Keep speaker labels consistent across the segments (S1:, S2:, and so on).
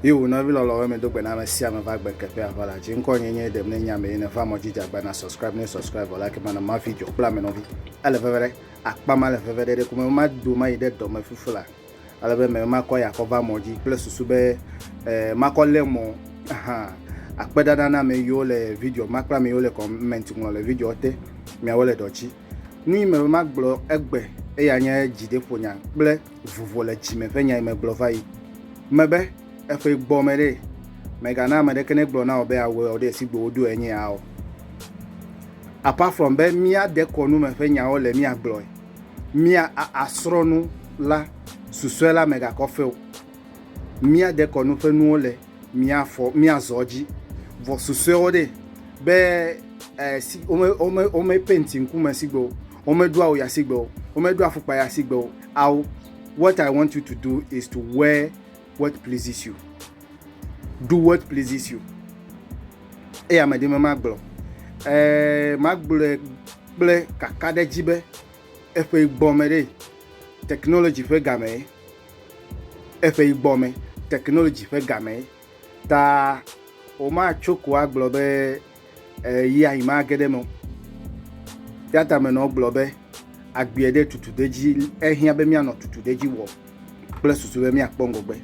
S1: ye wò nɔvi lɔlɔwo me do gbe na ame sia ame va gbe keƒe aʋa la dzi ŋkɔ nye nye ɖem ne nya me yene va mɔ dzi dzagba na subscribe ne subscribe wɔ like mana ma vi dzɔ kple ame nɔvi ele veve ɖe akpa ma le veve ɖe ɖe kume ma do ma yi ɖe dɔme fufu la Ale be mele makɔ ya kɔ va mɔ dzi kple susu be makɔ le mɔ hã. Akpe ɖaɖa na ame yiwo le video ma kple ame yiwo le comment ŋlɔ le video te. Miawo le dɔ dzi. Nu yi mele magblɔ egbe eya nye dzideƒonya kple vuvo le dzime ƒe nya yi megblɔ va yi. Mebe eƒe gbɔ me ɖe megana ame ɖeke ne gblɔ na wò be awɔ ɖe esi gbo woɖo enye ya o. Apart from be mía dekɔnu me ƒe nyawo le mía gblɔe. mía asrɔ̃ nu la, susɔe la megakɔ fe o. Mía dekɔnu ƒe nuwo le mía fɔ mía zɔ dzi. Vɔ susɔewo ɖe be eh, si, wome, wome, wome penti ŋkume sigbe o. Wome ɖo awu ya sigbe o. Wome ɖo afukpa ya sigbe o. Awu, what I want you to do is to wear What pleases you? Do what pleases you? Eya me ɖi me magblɔ. Ɛɛ magblɔe kple kakaɖedzi be eƒe gbɔme ɖe technology ƒe game ye. Eƒe gbɔme technology ƒe game ye. Ta womatso ko agblɔ be Ɣeyiɣi ma geɖe me Teatamenɔwo gblɔ be, Agbeɛ ɖe tutuɖedzi ehiã be míanɔ tutuɖedzi wɔm kple susu be míakpɔ ŋgɔgbe.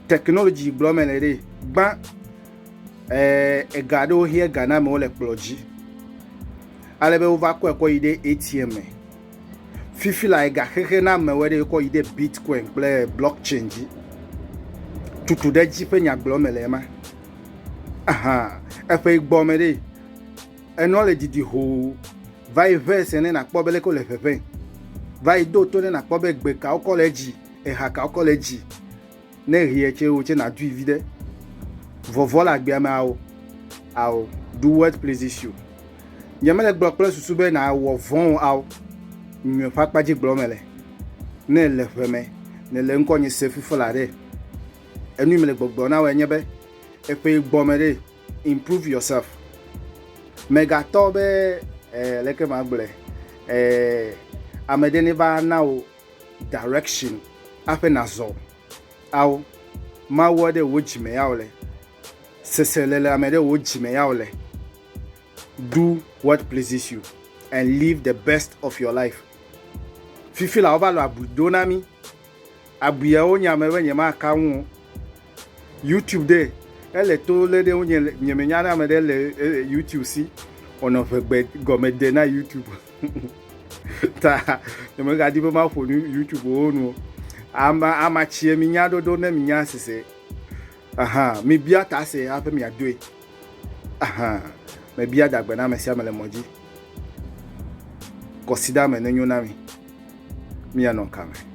S1: Technology gblɔ mele ɖe, gbã ega aɖewo hiã ega na amewo le kplɔ dzi ale be wova kɔe kɔ yi ɖe ATM me. Fifi la ega xexe na amewo ɖe kɔ yi ɖe Bitcoin kple blockchain dzi. Tutuɖedzi ƒe nyagblɔ mele ema. Ahan, eƒe gbɔ me ɖe. Enɔ le didi hoo. Va yi ʋɛ se ne nakpɔ be leke wole ʋeʋẽ. Va yi do to ne nakpɔ be gbe ka wokɔ le edzi, eha ka wokɔ le edzi. Ne ʋeɛ tsɛ wò tsɛ nàdui viɖe. Vɔvɔ le agbea me ao. Ao, do what pleases you. Nyemele gblɔ kple susu be nàwɔ vɔ̃ o ao. Nyɔe ƒe akpa dzi gblɔm mele. Ne èle ʋe me, nèle ŋkɔ nye se fifla ɖe. Enu yi mele gbɔgblɔ na woe nye be eƒe gbɔ me ɖe improve yourself. Megatɔ be eh leke magblɔe eh ame ɖe ne va na wò direction aƒe nazɔ ao Mawu aɖe wò dzi me ya wòle, seselelame ɖe wò dzi me ya wòle. Do what pleases you and live the best of your life. Fifi la wova lɔ abui do na mí Abuiawo nye ame be nyemaka ŋu o. Youtube ɖe, ele to le ɖe ŋunye le, nye me nya ne ame ɖe le youtube si o nɔ ʋe gbe gɔme de na youtube ta nye me ga di be ma ƒo nu youtube wo nu o. Ama, amatsie mi nya ɖoɖo ne mi nya sese. Aha, mibia ta se hafi miadoe. Aha, mebia dagbe na ame sia ame le mɔ dzi. Kɔsida me nenyo na mi. Mianɔ ka me.